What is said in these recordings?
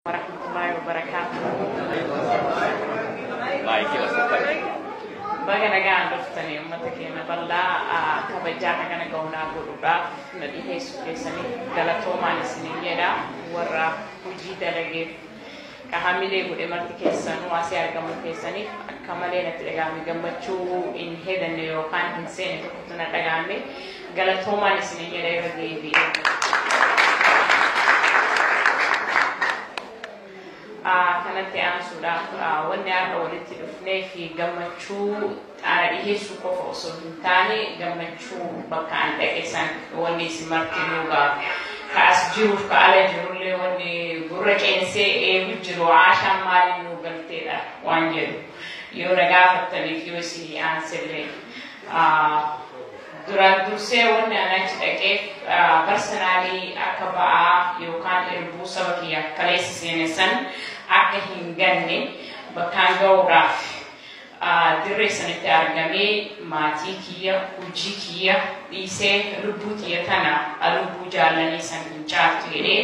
warahmatullahi wabarakatuh. Baik, kita sampai. Baga nagaan dhuftanii uummata keenya bal'aa kabajaa hagana ga'uunaa godhuudhaaf na dhiheessuu keessanii galatoomaan isiniin jedha warra hojii dalageef ka hamilee godhe marti keessanuu asii argamuu keessaniif akka malee natti dhaga'ame gammachuu hin hedanne yookaan hin seene tokkotu na dhaga'ame Galatoomaan isinin jedha irra deebi'ee. Ah, Kanatti aansuudhaaf ah, wanni har'a walitti dhufnee fi gammachuu xaara dhiheessuu qofa osoo hin taane gammachuu bakka an dhaqe san wanni isin marti nuugaa ka as jiruuf ka ala jirullee wanni gurra qeensee eegu jiru aashaan maaliin nuu galteedha waan jedhu yoo na gaafattaniif yoo isinii aansillee. Duraan dursee wanni an achi dhaqeef barsanaalii akka ba'aa yookaan irbuu saba kiyyaaf kaleessa seene san akka hin ganne bakkaan ga'uudhaaf dirree sanitti argamee maatii kiyya, hujii kiyya dhiisee lubbuu tiyya tana lubbuu jaallanii san hin caaltu jedhee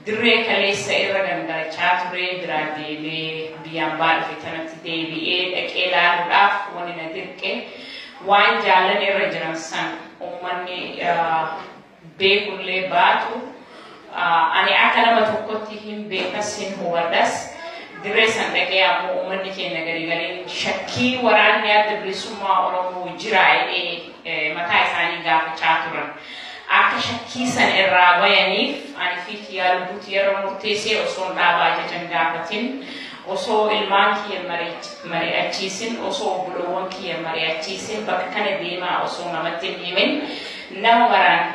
Dirree kaleessa irra gangalachaa ture biraa deemee biyya ambaa dhufe tanatti deebi'ee dhaqee laaluudhaaf wani na dirqe waan jaallan irra jiran san ummanni beekullee baatu ani akka nama tokkotti hin beekas hin hubadhas dirree san dhaqee ammoo ummanni keenya gariigariin shakkii waraanni adda bilisummaa Oromoo jiraa'ee mataa isaanii gaafachaa turan. Akka shakkii san irraa bayaniif ani fi kiyyaa lubbuu tiyyarra murteessee osoon dhaabaa ajajan gaafatin, osoo ilmaan kiyya mari'achiisin, osoo obboloowwan kiyya mari'achiisin, bakka kana deemaa osoo namatti hin himin nama maraan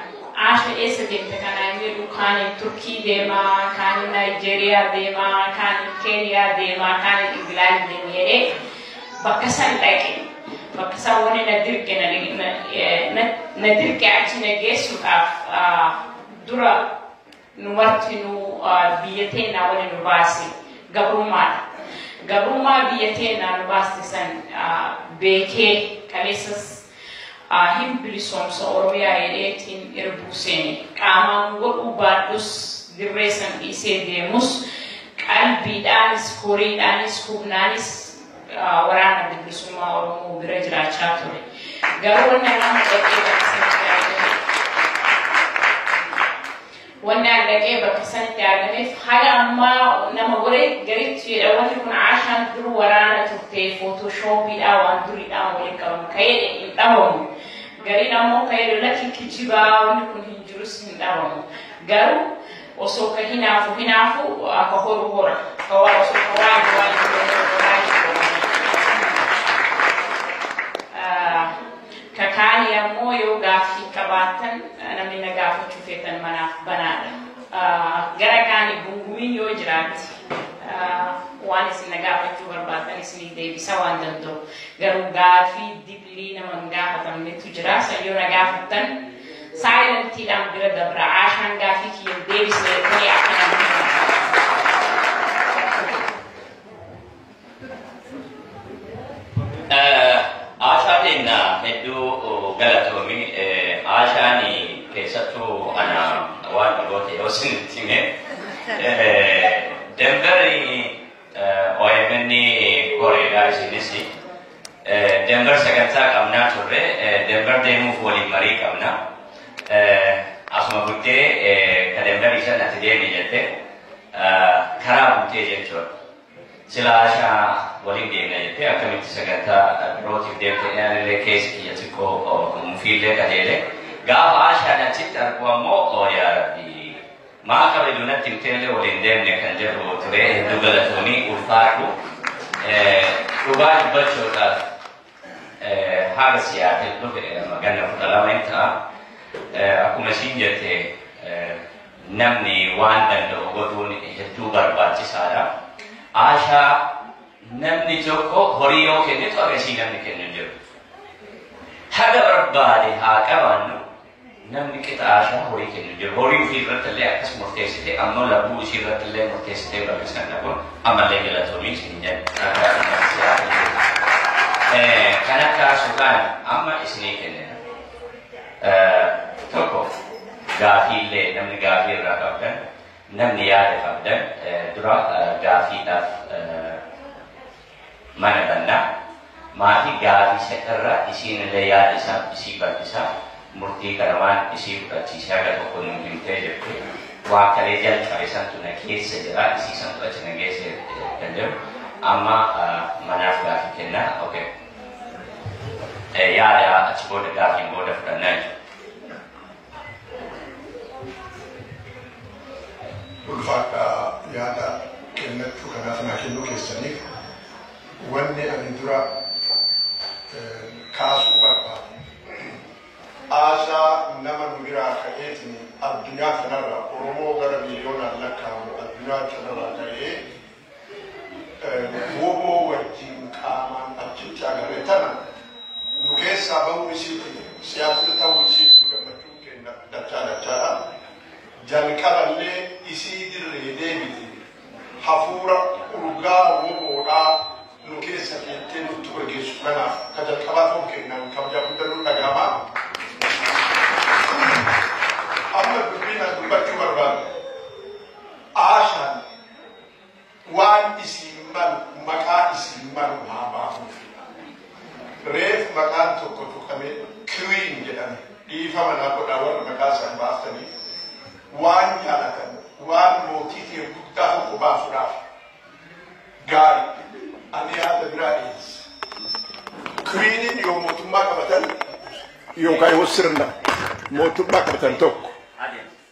Aasha eessa deemte kanaan jedhu kaaniin Turkii deemaa, kaaniin Naayijeeriyaa deemaa, kaaniin Keeniyaa deemaa, kaaniin Ingilaandi deema jedhee Bakka san dhaqe. Bakka san wani na dirqe na, na, na, na dirqe achi na geessuudhaaf ah, dura nu martinuu ah, biyya teennaa wani nu baase gabrummaadha. Gabrummaa biyya teennaa nu baaste san ah, beekee kaleessas aa hin bilisoomsa oromiyaa jedhee tiin irbuu seene qaamaan godhuu baadhus dirree san dhiisee deemus qalbiidhaanis horiidhaanis humnaanis aa waraana bilisummaa oromoo bira jiraachaa ture garuu wanni irraa mudhatee barsiisa Wannaan dhaqee bakka sanitti argameef haga ammaa nama gore gariitu jedha wanni kun Aashaan dur waraana turte footoshooppiidhaa waan duriidhaan waliin qabamu ka jedhe hin dhabamu. Gariin ammoo ka jedhu lakki kijibaa wanni kun hin jirus hin dhabamu. Garuu osoo ka hinaafu hinaafu akka horu hora. Ka waan osoo ka waan waan hin jirre horaa hin horu. Ka kaanii ammoo yoo gaaffii qabaattan namni na gaafachuu feetan manaaf banaadha. Gara kaanii gungumiin yoo jiraatte waan isin na gaafachuu barbaaddan isinii deebisa waan danda'u. Garuu gaaffii diplii nama hin gaafatamnetu jira. San yoo na gaafattan saayilentiidhaan bira dabra. Aashaan gaaffii kiyya hin deebisne jettanii akka namni hin Aashaa keenya hedduu galatoomi. Aashaan keessattuu ana waan dhagoote yoo isinitti hime. Denveri OMN koreedha isinis. Denver sagantaa qabnaa turre. Denver deemuuf waliin marii qabna. Asuma bultee ka Denver isan ati deemi jette karaa bultee jechuudha. Silaa Ashamaa waliin deemna jettee akkamitti sagantaa birootiif deemte jedhee anillee keessi kiyya xiqqoo mufiillee qajeele. Gaafa Ashaan achitti argu ammoo yaa rabbi maa kabaju natti himteellee waliin deemne kan jedhu ture hedduu galatoomii ulfaadhu. Dhugaa dubbachuudhaaf Haga Siyaatil dhufe amma ganna kudha lama hin ta'a. Akkuma ishiin jette namni waan danda'u godhuun hedduu barbaachisaadha. Aashaa namni tokko horii yoo kennitu haga ishii namni kennu hin jiru. Haga barbaade haa qabaannu Namni qixa aashaa horii kennu jira. Horii ufii irratti illee akkas murteessite ammoo labbuu isii irratti illee murteessitee bal'isan dhabuun ammallee galatoomii isin jedha. Nagaa dhumaa si haa kennu. Kan akka suuqaan amma isinii kennina. Tokko gaafii illee namni gaafii irraa qabdan namni yaada qabdan dura gaafiidhaaf mana banna maafi gaafisa irra isiinillee yaada isaaf isii bal'isa murtii kana waan isii fudhachiise haga tokko nuu himtee jirti waan kalee jalqabe santu na keessa jira isii santu achi na geesse kan jedhu amma manaaf gaafii kenna okay. yaada achi booda gaafii booda fudhanna jechuudha. Ulfaadhaa yaada kennachuu kanaaf naa kennuu keessaniif. Wanni ani dura kaasuu barbaade aasaa nama nu biraa ka'eetiin addunyaa kanarra Oromoo gara miiliyoonaan lakkaa'amu addunyaa kanarraa ka'ee wbo wajjiin qaamaan achitti agarre tana nu keessaa bahuu isiitiif Seattle tahuu isiitiif gammachuun keenna dachaa dachaadha. Jalqaba illee isii dirree deebiti hafuura urgaa wbo dhaa nu keessa keettee nuttu gageessu kanaaf ka jalqabaa tahuu keennaan kabajaa gudda nu dhagahama. Amma dubbiin an dubbachuu barbaadu Aashaan waan isiin malu maqaa isiin malu haa baafuufidha. Reef maqaan tokko tuqame Queen jedhame dhiifama naa godhaa warra maqaa isaan baaftanii waan jaalatan waan mootii ta'e guddaa tokko baasuudhaaf gaarii ani yaada biraa dhiyeessa. Queeniin yoo mootummaa qabatan yookaan yoo sirna mootummaa qabatan tokko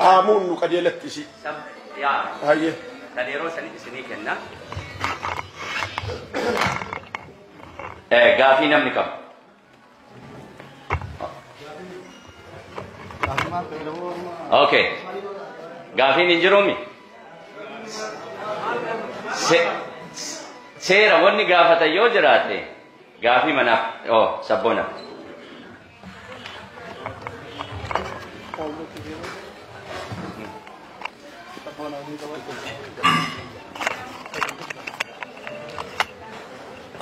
haamuun nu qajeelatti isii. Hayyee. Kan yeroo sanitti isinii kenna. Gaafii namni qabu. Okay. Gaafiin hin jiruumi? Seera wanni gaafatan yoo jiraate gaafii manaaf sabboona.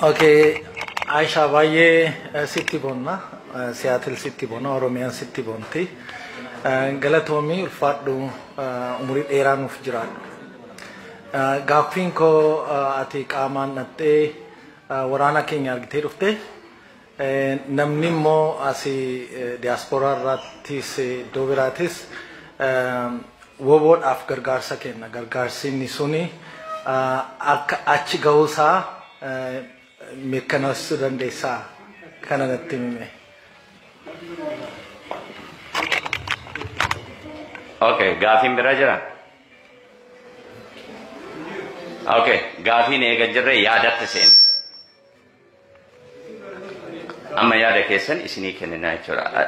Okay, Aisha baay'ee eh, sitti bonna. Eh, Seattle sitti bonna, Oromiyaan sitti bonti. Eh, Galatoomii ulfaadhu eh, umurii dheeraa nuuf jiraadhu. Eh, Gaaffiin koo eh, ati qaamaan dhattee eh, waraana keenya argitee dhufte. Namni immoo asii diyaaspooraa irraattis iddoo biraatis woboodhaaf gargaarsa kenna. Gargaarsi inni suni akka achi ga'uusaa mirkaneessuu dandeessaa kana natti himime. Okay, gaafiin biraa jira? Okay, gaafiin eega jirre yaadatti seena. Amma yaada keessan isinii kennina jechuudha.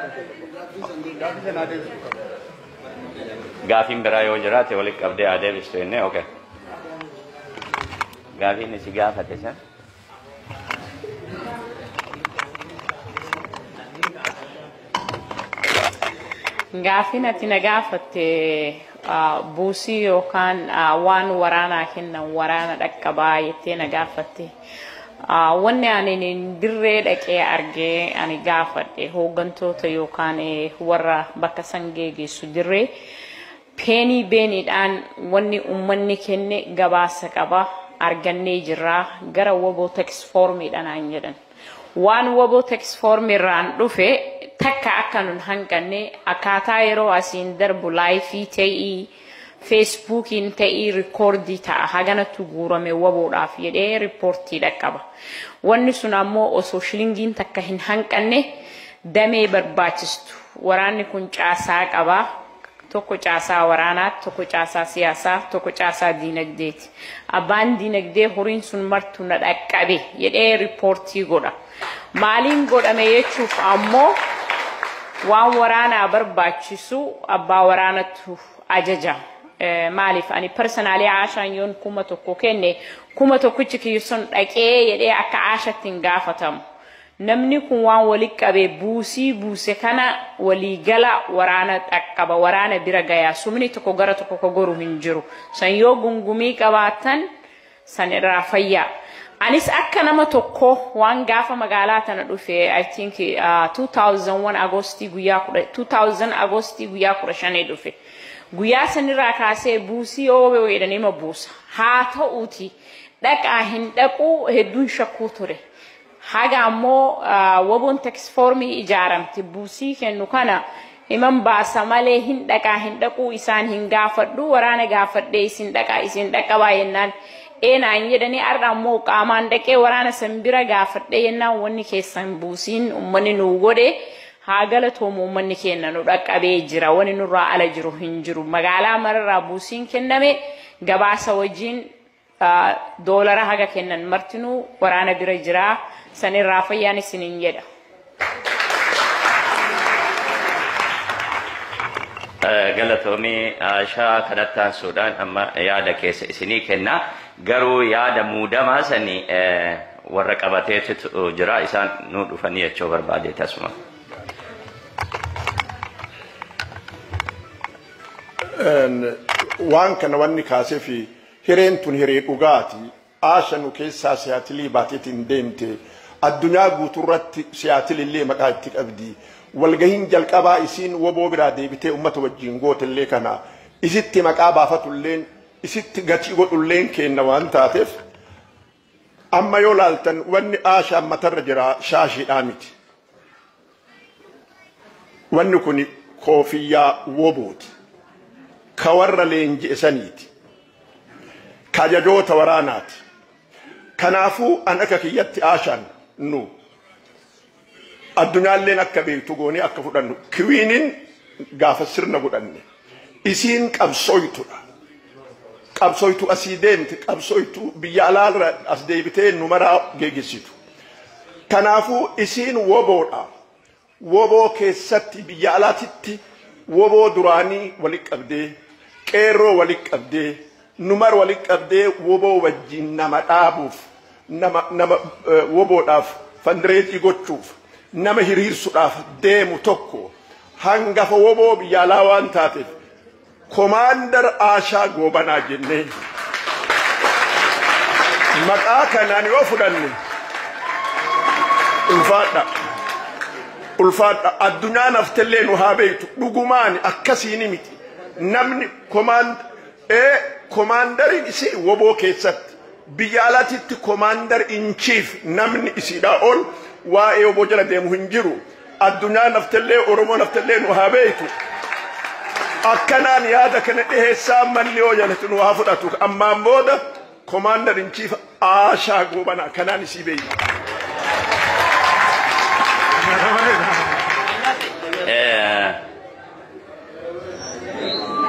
Gaafiin biraa yoo jiraate walitti qabdee haa deebistu jennee okay. Gaafiin isi gaafate san. Gaafiin ati na gaafatte ah, buusii yookaan ah, waan waraanaa kennan waraana dhaqqabaa jettee na gaafatte. Wanni ani dirree dhaqee arge ani gaafadhe hooggantoota yookaan warra bakka san geegeessu dirree peenii beeniidhaan wanni ummanni kenne gabaasa qaba argannee jirraa gara waboo teksfoormiidha naan jedhan. Waan waboo teksfoormiirraan dhufe takka akka nun hanqanne akkaataa yeroo asiin darbu laayifii ta'ii Feesbuukiin ta'ii rikoordii ta'a. Haganatu guurame waboodhaaf jedhee riippoortii dhaqqaba. Wanni sun ammoo osoo shilingiin takka hin hanqanne damee barbaachistu. Waraanni kun caasaa qaba. Tokko caasaa waraanaati, tokko caasaa siyaasaa, tokko caasaa diinagdeeti. Abbaan diinagdee horiin sun martu na dhaqqabe jedhee riippoortii godha. Maaliin godhame jechuuf ammoo waan waraanaa barbaachisu abbaa waraanatu ajaja. Maaliif ani personaalii Aashaan yoon kuma tokko kenne kuma tokkichi kiyyu sun dhaqee jedhee akka Aashatti hin gaafatamu. Namni kun waan wali qabe buusii buuse kana walii gala waraana dhaqqaba waraana bira gaya sumni tokko gara tokko ka goru hin jiru. San yoo gungumii qabaatan san irraa fayyaa. Anis akka nama tokko waan gaafa magaalaa tana dhufe I think uh, 2001 Agostii guyyaa 10 2000 Agostii guyyaa 15 dhufe. Guyyaa sanirraa kaasee buusii yoo yoo jedhan ima buusa. Haa ta'uuti dhaqaa hin dhaquu hedduun shakkuu ture. Haga ammoo woboon teksfoormii ijaaramte buusii kennu kana himan baasa malee hin dhaqaa hin dhaquu isaan hin gaafadhu waraana gaafadhee isin dhaqa isin dhaqqabaa yennaan ee naan jedhanii har'a ammoo qaamaan dhaqee waraana san bira gaafadhee yennaan wanni keessan buusiin ummanni nuu godhe haa galatoomu ummanni keenna nu dhaqqabee jira wani nurraa ala jiru hin jiru magaalaa mararraa buusiin kenname gabaasa wajjiin doolara haga kennan martinuu waraana bira jira sanirraa fayyaan isinin jedha. Galatoomii Aashaa kanatti aansuudhaan amma yaada keessa isinii kenna. Garuu yaada muudamaa sani warra qabateetu jira isaan nu dhufanii jechuu barbaade tasuma. Waan kana wanni kaasee fi Hireen tun hiree dhugaati. Aasha nu keessaa Siyaatilii baateetiin deemte. Addunyaa guutuurratti Siyaatilillee maqaa itti qabdi. Walgahiin jalqabaa isiin woboo biraa deebitee ummata wajjiin gootellee kana. Isitti maqaa baafatulleen, isitti gatii godhulleen keenna waan taateef, Amma yoo laaltan wanni aashaan matarra jira shaashiidhaa miti. Wanni kuni koofiyyaa wobooti. Ka warra leenji'e saniiti. Ka ajajoota waraanaati. Kanaafuu an akka kiyyatti aashaan nu Addunyaalleen akka beektu goonee akka fudhannu kiwiinin gaafa sirna godhanne isiin qabsooytudha. Qabsooytuu asii deemte qabsooytuu biyya alaarra as deebitee nu maraa geegessitu. Kanaafuu isiin woboodha. Woboo keessatti biyya alaatitti woboo duraanii walitti qabdee qeerroo walitti qabdee Nu mara walitti qabdee wbo wajjin nama dhaabuuf, nama nama wbo dhaaf fandireezii gochuuf, nama hiriirsu dhaaf deemu tokko hangafa wbo biyya alaa waan taateef Komaandar Aashaa Goobanaa jennee maqaa kanaan yoo fudhanne ulfaadha. Ulfaadha. Addunyaan haftellee nu haa beektu. Dhugumaan akkasiin miti. Namni komaand ee komaandariin isii woboo keessatti biyya alatitti komaandar in chief namni isiidhaa ol waa'ee woboo jala deemu hin jiru addunyaa naftellee oromoo naftellee nu haa beeytu akkanaan yaada kana dhiheessaa manni yoo jalatti nu haa fudhatu ammaan booda Commander in Chief Aashaa Goobanaa kanaan isii beeyna.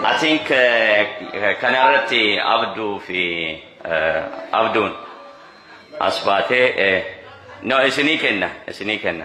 I think kana irratti Abduu fi Abduun as baatee no isinii kenna isinii kenna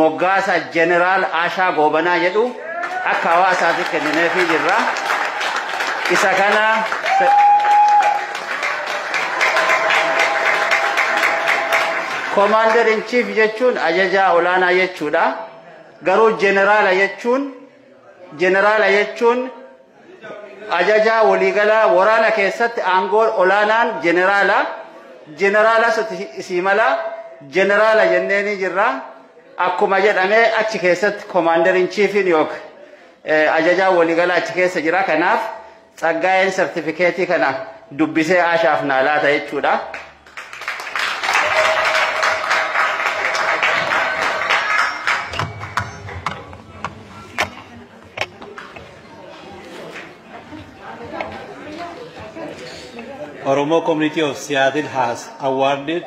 Moggaasa Jeneraal Aashaa Goobanaa jedhu akka hawaasaatiif kennineefii jirra. Isa kana Commander in Chief jechuun ajajaa olaanaa jechuudha. Garuu jeneraala jechuun Jeneraala jechuun ajajaa waliigalaa waraana keessatti aangoo olaanaan jeneraala. Jeneraalas isii mala jeneraala jennee ni jirra. Akkuma jedhamee achi keessatti komaandariin chiifiin yookiin ajajaa waliigalaa achi keessa jira. Kanaaf Tsaggaayeen sartifikeetii kana dubbisee Aashaaf naa laata jechuudha. Oromo Community of Seattle has awarded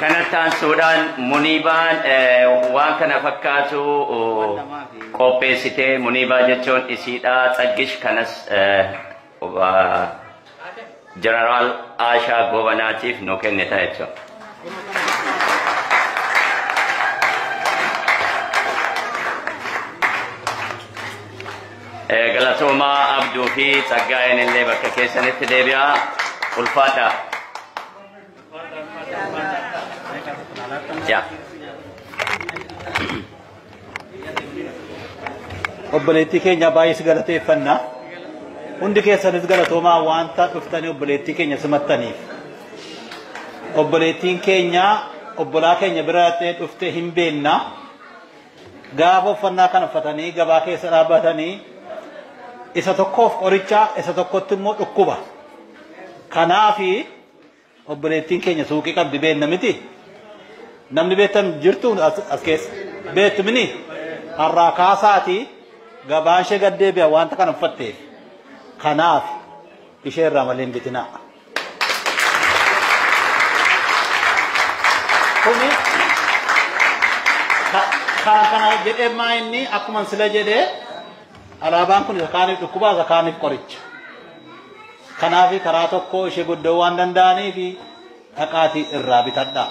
kanatti aansuudhaan muniibaan waan kana fakkaatu qopheessitee muniibaa jechuun isiidhaa tsaggish kanas Jeneraal Aashaa Goobanaatiif nu kennita jechuudha. Eh, Galatoomaa Abduu fi Tsaggaayeen illee bakka keessanitti deebi'aa ulfaadhaa. Yaa. Obboleettii keenya baay'ee si galateeffanna. Hundi keessanis galatoomaa wanta dhuftanii obboleettii keenya simattaniif. Obboleettiin keenya obbolaa keenya bira dhaqxee dhuftee hin beenna. Gaafa uffannaa kana uffatanii gabaa keessa dhaabbatanii isa tokkoof qoricha isa tokkotti immoo dhukkuba. Kanaafi Obboleettiin keenya suuqii qabdi beekna miti. Namni beektan jirtu as keessa. Beektu mini har'aa kaasaati gabaan ishee gad deebi'a wanta kana uffatteef. Kanaaf ishee irraa malee hin bitinaa. Kuni kana kana jedhee maa inni akkuma sila jedhee Alaabaan kun isa kaaniif dhukkuba, isa kaaniif qoricha. Kanaaf karaa tokko ishee godda'uu waan danda'aniif dhaqaatii irraa bitadhaa.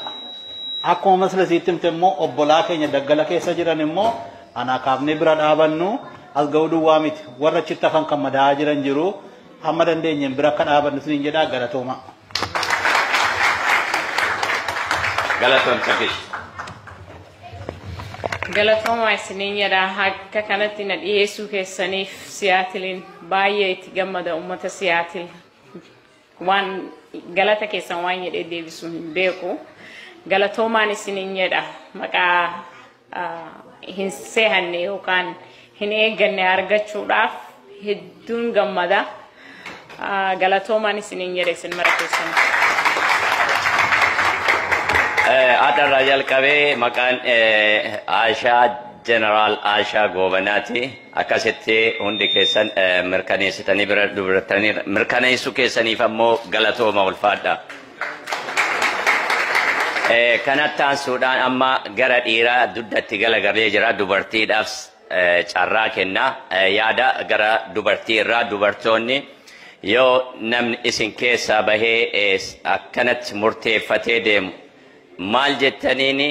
Akkuma maslasiitti himte immoo obbolaa keenya daggala keessa jiran immoo anaa kaafnee bira dhaabannu as ga'uu duwwaa miti. Warra achitti hafan kan madaa'aa jiran jiru hamma dandeenyeen bira akka dhaabannu isiniin jedhaa galatooma. Galatoon Safish. Galatoomaa isiniin jedha akka kanatti na dhiyeessuu keessaniif siyaatiliin baay'ee itti gammada uummata siyaatil waan galata keessan waan jedhee deebisuu hin beeku galatoomaan isiniin jedha maqaa hin seehanne yookaan hin eegganne argachuudhaaf hedduun gammada galatoomaan isiniin jedhe isin mara keessan. Adharraa jalqabee maqaan Aashaa Jeneraal Aashaa Goobanaati. Akkasitti hundi keessan mirkaneessitanii bira dubartanii mirkaneessuu keessaniif ammoo galatooma ulfaadha. Kanatti aansuudhaan amma gara dhiiraa duddatti galagalee jira dubartiidhaaf carraa kenna. Yaada gara dubartii irraa dubartoonni yoo namni isin keessaa bahee akkanatti murteeffatee deemu maal jettaniini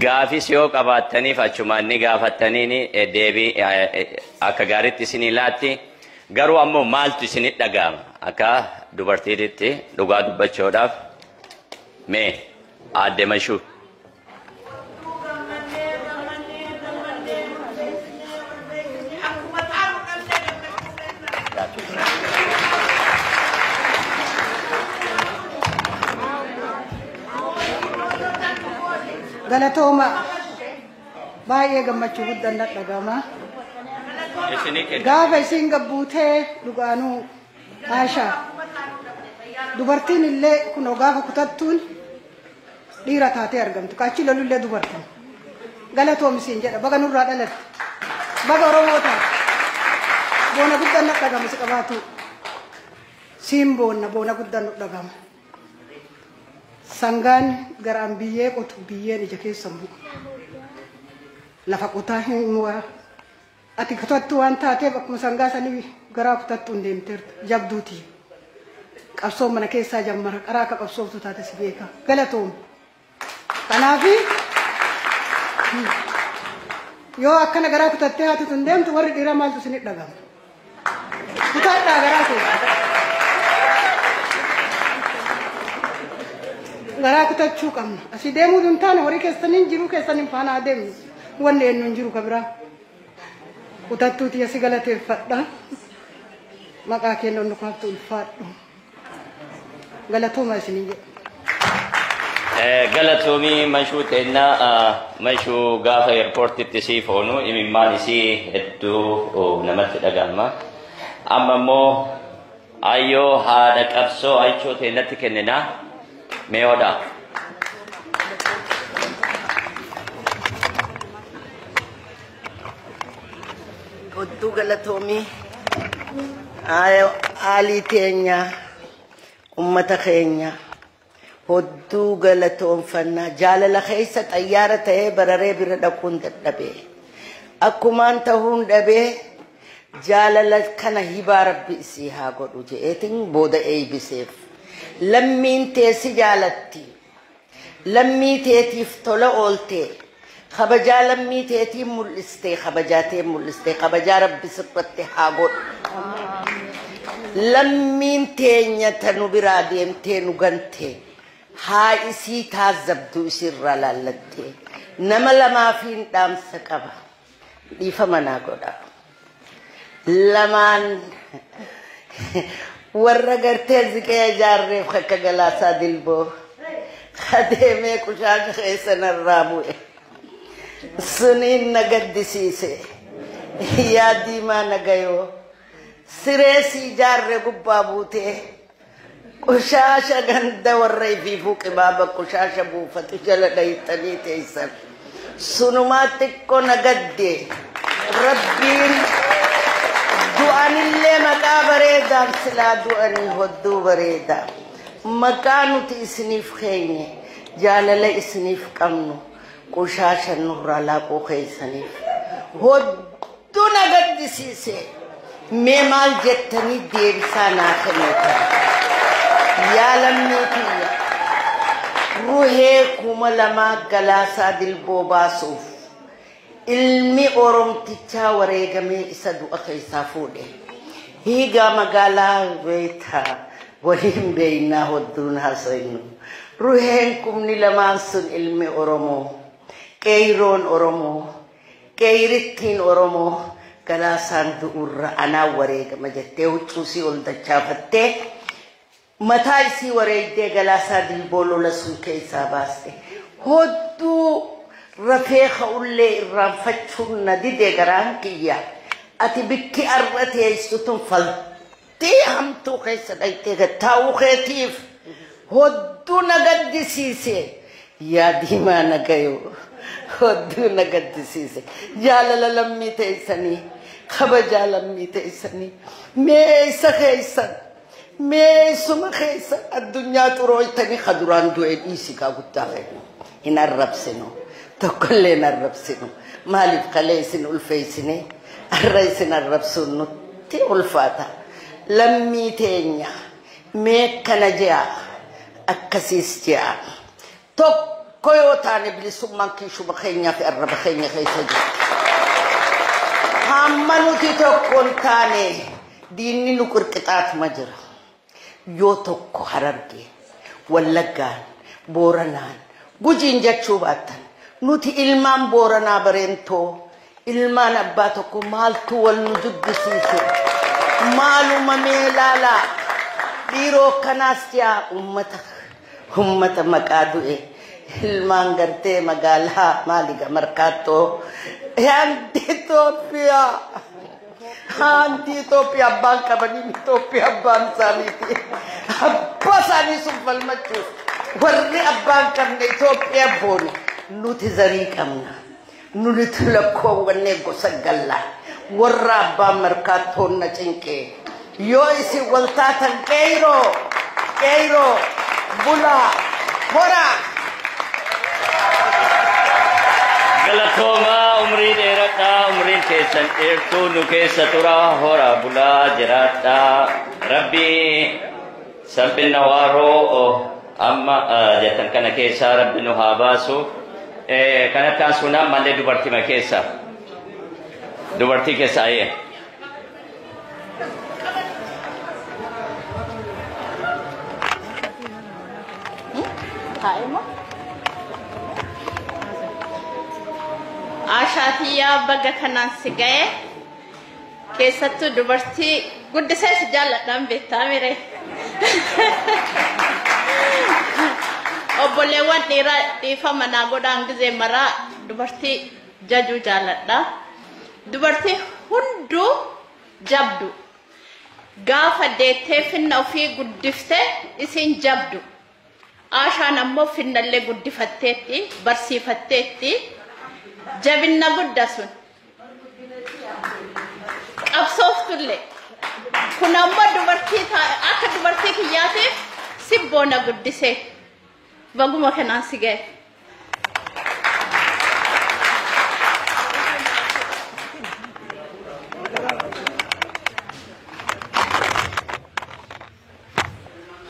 gaafis yoo qabaattaniif achumaan ni gaafattaniini deebii akka gaariitti isinii laatti garuu ammoo maaltu isinit dhaga'ama akka dubartiititti dhugaa dubbachuudhaaf mee aadde mashuu. Galatooma baay'ee gammachuu guddaan na dhagama. Gaafa isiin gabbuutee dhugaanuu haashaa. Dubartiin illee kunoo gaafa kutattuun dhiira taatee argamtu ka achi lolullee dubartii galatoomi siin jedha baga nurraa dhalatte baga oromoo taate boona guddaan na dhagama si qabaatu siin boonna boona guddaan nu dhagama sangaan garaan biyyee qotu biyyeen ija keessa hin bu'u lafa qotaa hin mu'aa Ati kutattuu waan taateef akkuma sangaa sanii garaa kutattuun deemteerta. Jabduu tiyya. Qabsoon mana keessaa jammara. Qaraa akka qabsooftuu taate si beeka. Galatoomi. Kanaafi yoo akkana garaa kutattee haati tun deemtu warri dhiiraa maaltu isinit dhagama. Kutadhaa garaa kee. Garaa kutachuu qabna. Asii deemuu hin taane horii keessaniin jiruu keessaniin faana haa deemnu. Wanni eenyu hin jiru ka biraa. Kutattuu tiyya si galateeffadha. Maqaa keenya ol nu kaaftu ulfaadhu. Galatooma isiniin jedha. Galatoomii mashuu teennaa mashuu gaafa eerpoortitti sii foonu imimmaan isii hedduu namatti dhaga'ama. Amma immoo ayyoo haadha qabsoo aychoo teennatti kenninaa mee hodhaa. Kottuu galatoomii aalii teenya ummata keenya hodduu galatoonfannaa jaalala keessa xayyaara ta'ee bararee bira dhaquun dadhabee akkumaan tahuun dhabee jaalala kana hibaa rabbi isii haa godhu je'eetiin booda eeybiseef lammiin teessi jaalatti Lammii teetiif tola ooltee, kabajaa lammii teetii mul'istee, kabajaa tee mul'istee, kabajaa Rabbi sirratti haa godhu. Lammiin teenya ta nu biraa deemtee nu gantee, haa isii taazzabdu isiirraa laallattee. Nama lamaafiin dhaamsa qaba. Dhiifama naa godha. Lamaan warra gartee ziqee ijaarreef akka galaasaa dilboo adeemee qushaasha keessa narraa bu'e. Suniin na gaddisiise. Yaa diimaa nagayoo. Siree si ijaarre gubbaa buutee Qoshaasha ganda warra ifiifuu qibaaba qoshaasha buufatu jala dhayxanii teessan. Sunumaa xiqqoo na gadde rabbiin du'anillee maqaa bareedaaf silaa du'anii hodduu bareeda. Maqaa nuti isiniif keenye jaalala isiniif qabnu qoshaasha nurraa laaquu keessaniif. Hodduu Hedduu na gaddisiise. Mee maal jettanii deebisaa naa kennitan? Yaa lammii tiyya, Ruhee kuma lamaa Galaasaa Dilboo baasuuf ilmi Oromtichaa wareegamee isa du'a keessaa fuudhe. Hiigaa magaalaa beekta waliin beeknaa hodduun haasofnu. Ruheen kumni lamaan sun ilmi Oromoo, qeeyroon Oromoo, Qeeyrittiin Oromoo Galaasaan du'urra anaan wareegama jettee huccuu isii ol dachaafattee mataa isii wareegdee Galaasaa Dilboo lola sun keessaa baaste. Hodduu rafee ka'ullee irraanfachuun na dide garaan kiyya. Ati bikki arra teessu tun fal. Tii hamtuu keessa dhayxee gad taa'uu keetiif hodduu na gaddisiise yaa diimaa na gayoo hodduu na gaddisiise jaalala lammii teessanii kabajaa lammii teessanii mee eessa keessan mee eessuma keessan addunyaa xurooytanii ka duraan du'e dhiisi kaa guddaa kennu hin arrabsinu tokkollee hin arrabsinu maaliif kalee isin ulfeessinee Arra isin arrabsuun nutti ulfaata. Lammii teenya mee akkana je'a akkasiis je'a. Tokko yoo taane bilisummaan kiishuma keenyaa fi arraba keenya keessa jirti. Hamma nuti tokko hin taane diinni nu qirqixaatuma jira. Yoo tokko Harargeen, Wallaggaan, Booranaan, Gujiin jechuu baattan nuti ilmaan Booranaa Bareentoo ilmaan abbaa tokkoo maaltu wal nu jibbisiise? Maaluma mee laalaa dhiiroo akkanaas yaa ummata ummata maqaa du'e ilmaan gartee magaalaa maaliga markaattoo and Itoophiyaa. Haanti Itoophiyaa abbaan qabanii Itoophiyaa abbaan isaaniiti. Abbaa isaanii sun falmachuuf warri abbaan qabne Itoophiyaa boone nuti zarii qabna. Nuti lakkoowwannee gosa gallaa warra abbaan markaattoonna cinqee Yoo isin wal taatan qeeyroo qeeyroo bulaa horaa. Galatoomaa umrii dheeradhaa umriin keessan dheertuu nu keessa tura horaa bulaa jiraadhaa rabbi salphina waaroo amma jettan kana keessaa rabbi nu haa baasu kan akkaan suunaan mallee dubartima keessa dubartii keessa ayyee. Taa'ima. Ashaatiyaa baga kanaan si ga'e keessattuu dubartii guddisee si jaalladhaan beektaa mire. Obboleewwan dhiiraa dhiifama naa godhaan gizee maraa dubartii jajuu jaaladha dubartii hunduu jabdu gaafa deettee finna ofii guddifte isiin jabdu aashaan ammoo finnallee guddifatteetti barsiifatteetti jabinna gudda sun qabsooftulle kun ammoo dubartii ta- akka dubartii kiyyaatiif sibboona guddisee Baguma kanaan si gahe.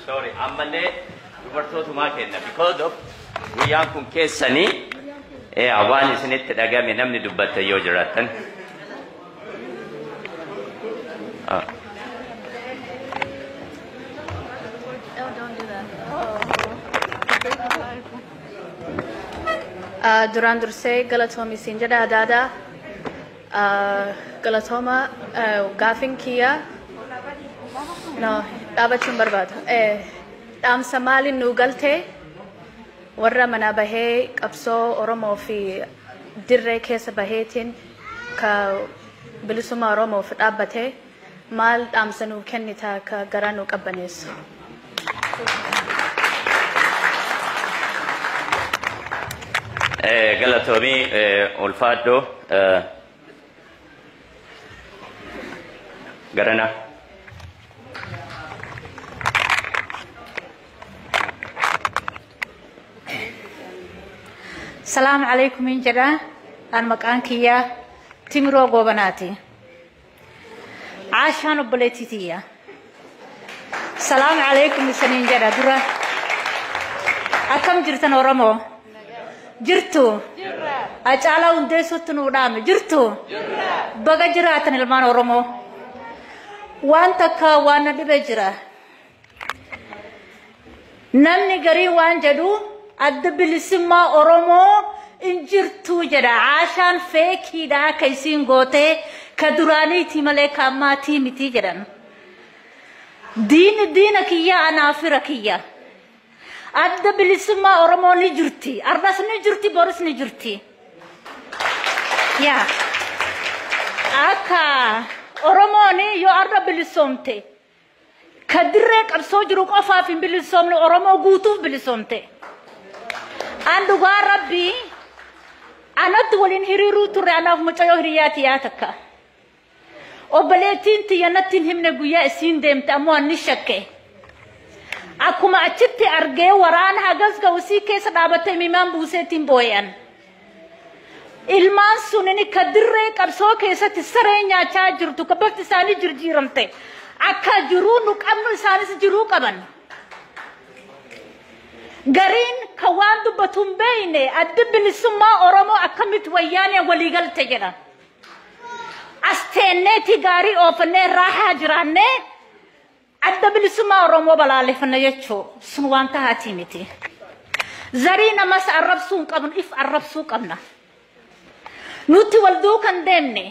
Sorry, ammallee dubartootumaa kenna because of guyyaan kun keessanii eh, waan isinitti dhagame namni dubbatte yoo jiraattan. Duraan dursee galatoomi siin jedha adda addaa. Galatooma gaafin kiyya no dhaabachuun barbaada. Dhaamsa maaliin nuu galtee warra manaa bahee qabsoo Oromoo fi dirree keessa baheetiin ka bilisummaa Oromoof dhaabbate maal dhaamsa nuu kennita ka garaa nuu qabbaneessu? Galatoomii ulfaadhoo garana. Salaamu alaikum hin jedha an maqaan kiyya timiroo goobanaati. Caashaan obboleettii tiyya. Salaamu alaikum isaniin jedha dura. Akkam jirtan Oromoo? Jirtu? Acaalaa hundeessuutti nuu dhaame jirtu? Baga jiraatan ilmaan Oromoo. Waan takka waan na dhibe jira. Namni garii waan jedhu adda bilisummaa Oromoo hin jirtuu jedha. Aashaan feekiidha akka isiin gootee ka duraaniitii malee ka ammaatii mitii jedhan. Diini diina kiyya anaa fira kiyya. Adda bilisummaa Oromoo ni jirti. Arras ni jirti, boris ni jirti. Yaa. Akka Oromoon yoo arra bilisoomte Ka dirree qabsoo jiru qofaaf hin bilisoomne Oromoo guutuuf bilisoomte. An dhugaa rabbii anatti waliin hiriiruu turre anaaf mucayyoo hiriyaa tiyaa takka. Obboleettiin tiyya natti hin himne guyyaa isiin deemte ammoo anni shakke. Akkuma achitti argee waraana hagas ga'u isii keessa dhaabattee mimaan buuseetiin booyan. Ilmaan sunini ka dirree qabsoo keessatti saree nyaachaa jirtu ka bafti isaanii jirjiiramte akka jiruu nu qabnu isaanis jiruu qaban. Gariin ka waan dubbatu hin beeyne addi bilisummaa Oromoo akkamitti wayyaaneen waliigalte jedha. As teenneetii gaarii oofannee raahaa jiraannee Adda bilisummaa Oromoo balaaleffanna jechuu sun waan tahaatii miti. Zarii namas arrabsuu hin qabnu if arrabsuu qabna. Nuti wal duukan deemne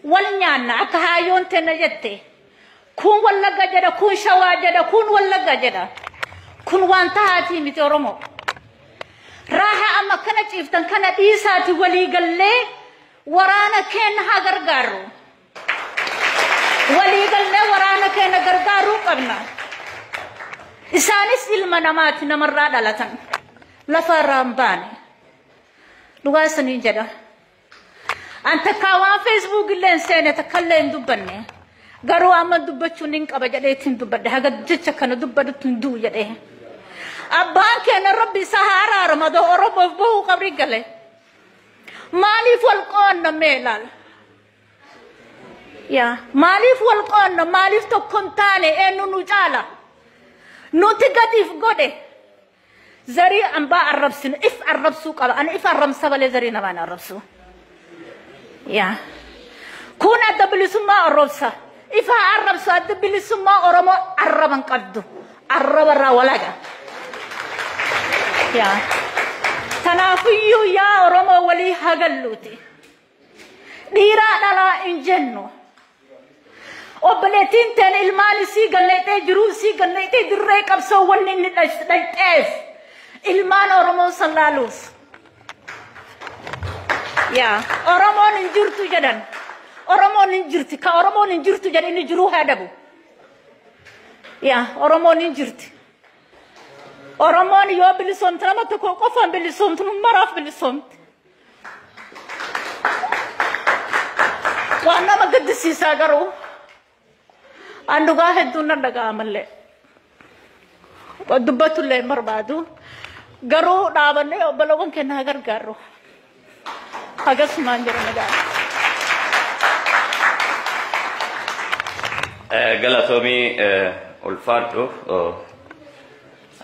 wal nyaanna akka haayyoon tenna jette kun wallagga jedha kun shawaa jedha kun wallagga jedha kun waan tahaatii miti Oromoo. Raaha amma kana ciiftan kana dhiisaati walii gallee waraana keenya haa gargaarru. Waliigallee waraana keenya gargaaruu qabna. Isaanis ilma namaati namarraa dhalatan. Lafa irraa hin baane. Dhugaa isiniin jedha. An takkaa waan feesbuuk illee hin seene takka illee hin dubbanne. Garuu amma dubbachuun hin qaba jedhee ittiin dubbadhe. Haga jecha kana dubbadhutti hin du'u jedhee. Abbaan keenya rabbi isaa haa araaramu adoo Oromoof bahuu qabri gale. Maaliif wal qoonna mee ilaala? Yaa maaliif wal qoonna maaliif tokko hin taane eenyu nu caala nuti gadiif godhe zarii ambaa arrabsinu if arrabsuu qaba ani if arrabsa malee zarii namaan arrabsu yaa kun adda bilisummaa arrabsa ifa arrabsu adda bilisummaa oromoo arraba hin qabdu arraba irraa walaga yaa tanaafiyyuu yaa oromoo walii hagalluuti. Dhiiraa dhalaa hin jennu. Obboleettiin teen ilmaan isii galleexee jiruu isii galleexee dirree qabsoo wanni inni dhaqxeef ilmaan Oromoo san laaluuf. Yaa Oromoon hin jirtu jedhan. Oromoon hin jirti ka Oromoon hin jirtu jedhan inni jiruu haa dhabu. Yaa Oromoon hin jirti. Oromoon yoo bilisoomte nama tokko qofaan bilisoomtu maraaf bilisoomte. Waan nama gaddisiisaa garuu an dhugaa hedduun nan dhaga'amallee. Dubbatullee hin barbaadu. Garuu dhaabannee obbolawwan keenya haa gargaarru. Akkasumaan jiran egaa. Galatoomii ulfaadhu.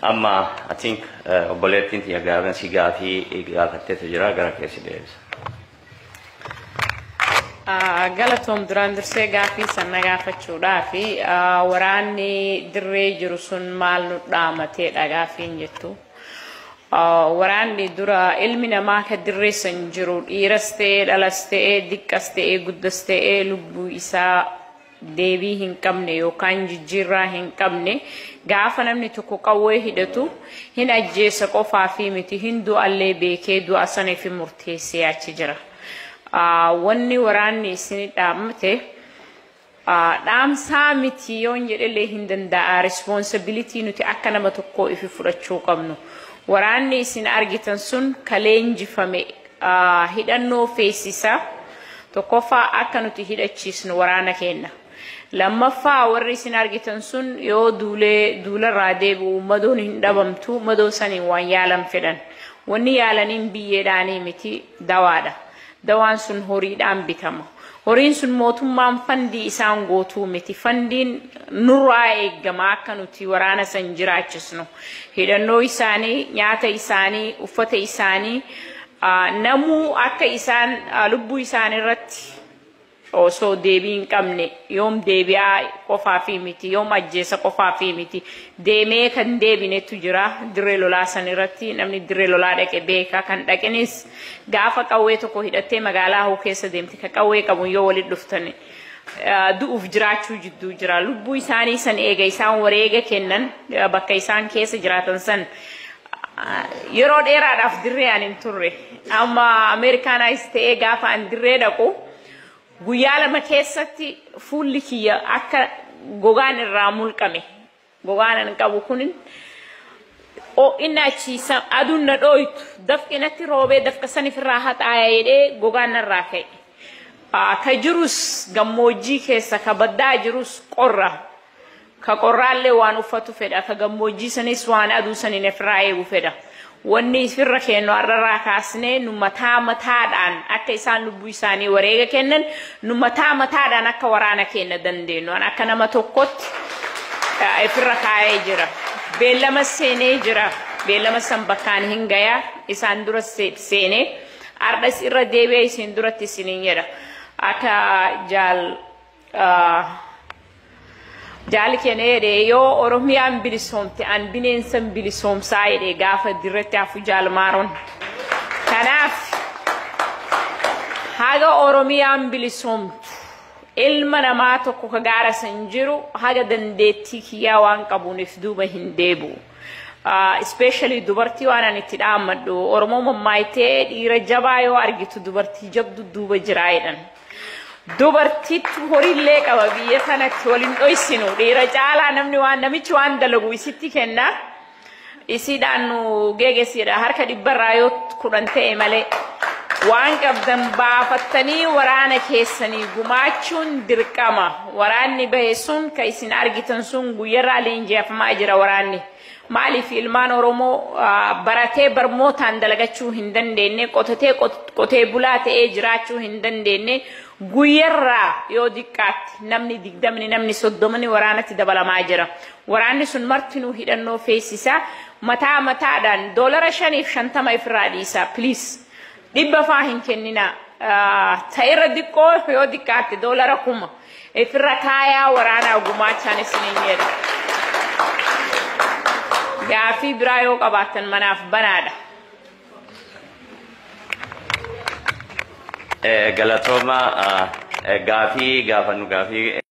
Amma I think obboleettiin tiyya Gaarvensii gaafii gaafatteetu jira gara kee si deebisa. Galatoom duraan dursee gaafii san na gaafachuudhaaf waraanni dirree jiru sun maal nu dhaamateedha gaafiin jettu. Waraanni dura ilmi namaa ka dirree san jiru dhiiras ta'ee dhalas ta'ee diqqas ta'ee guddas ta'ee lubbuu isaa deebii hin qabne yookaan jijjiirraa hin qabne gaafa namni tokko qawwee hidhatu hin ajjeessa qofaa fi miti hin du'allee beekee du'a sana fi murteessee achi jira. Wanni waraanni isin dhaamte dhaamsaa miti yoon jedhellee hin danda'a responsibility nuti akka nama tokkoo ifi fudhachuu qabnu. Waraanni isin argitan sun ka leenjifame hidhannoo feesisa. Tokkoffaa akka nuti hidhachiisnu waraana keenna. Lammaffaa warri isin argitan sun yoo duulee duularraa deebi'u madoon hin dhabamtu madoo saniin waan yaalan fedhan. Wanni yaalaniin biyyeedhaanii miti dawaadha. Dawaan sun horiidhaan bitama. Horiin sun mootummaan fandii isaan gootuu miti. Fandiin nurraa eegama akka nuti waraana san jiraachisnu. Hidhannoo isaanii, nyaata isaanii, uffata isaanii namuu akka isaan lubbuu isaanii irratti osoo deebii hin qabne yoom deebi'aa qofaafii miti yoom ajjeesa qofaafii miti deemee kan deebinetu jira dirree lolaa san irratti namni dirree lolaa dhaqe beeka kan dhaqinis Gaafa qawwee tokko hidhattee magaalaa hoo keessa deemte ka qawwee qabuun yoo walitti dhuftan du'uuf jiraachuu jidduu jira. Lubbuu isaanii san eega isaan wareega kennan bakka isaan keessa jiraatan san yeroo dheeraadhaaf dirree ani hin turre. Amma Ameerikaanaayis ta'ee gaafa an dirree dhaqu guyyaa lama keessatti fuulli kiyya akka gogaan irraa mulqame Gogaan an qabu kun ho'inna achi aduun na dhooytu dafqi natti roobee dafqa san ifirraa haxaaya jedhee gogaan narraa ka'e. Ka jirus gammoojjii keessa ka baddaa jirus qorra. Ka qorraallee waan uffatu fedha ka gammoojjii sanis waan aduu saniin ifirraa eegu fedha. Wanni ifirra keennu har'arraa kaasnee nu mataa mataadhaan akka isaan lubbuu isaanii wareega kennan nu mataa mataadhaan akka waraana keenna dandeennu an akka nama tokkotti ifirra kaa'ee jira. Beellama seenee jira. Beellama san bakkaan hin gaya isaan dura seenee har'as irra deebi'ee isin duratti isiniin jedha. Akka jaal Jaali keenya jedhe yoo Oromiyaan bilisoomte an bineensan bilisoomsaa jedhe gaafa dirratti hafu jaalmaaroon. Kanaaf haga Oromiyaan bilisoomtu ilma namaa tokko ka gaara san jiru haga dandeettii kiyyaa waan qabuunif duuba hin deebu. Ispeeshali dubartii waan ani itti dhaammadhu Oromoo mammaaktee dhiira jabaa yoo argitu dubartii jabdu duuba jiraa jedhan. Dubartiitu horiillee qaba biyya sanatti wal hin dhoysinu. Dhiira caalaa namni waan namichi waan dalagu isitti kenna. Isiidhaan nu geegessiidha. Harka dhibbarraa yoo kudhan ta'e malee. Waan qabdan baafattanii waraana keessanii gumaachuun dirqama. Waraanni bahe sun kan isin argitan sun guyyarraa leenji'afamaa jira waraanni. Maaliif ilmaan Oromoo baratee barmootaan dalagachuu hin dandeenye, qotatee qotee bulaa ta'ee jiraachuu hin dandeenye, guyyarraa yoo diqqaatti namni digdamni namni soddomni waraanatti dabalamaa jira. Waraanni sun martinuu hidhannoo feesisaa mataa mataadhaan doolara shaniif shantama ifirraa dhiisaa please dhibba faa hin kenninaa ta'erra diqqoo yoo diqqaatti doolara kuma. Ifirra kaayaa waraanaa gumaachaan isiniin jedha. Gaafii biraa yoo qabaattan manaaf banaadha. Galatooma gaafii gaafannu gaafii.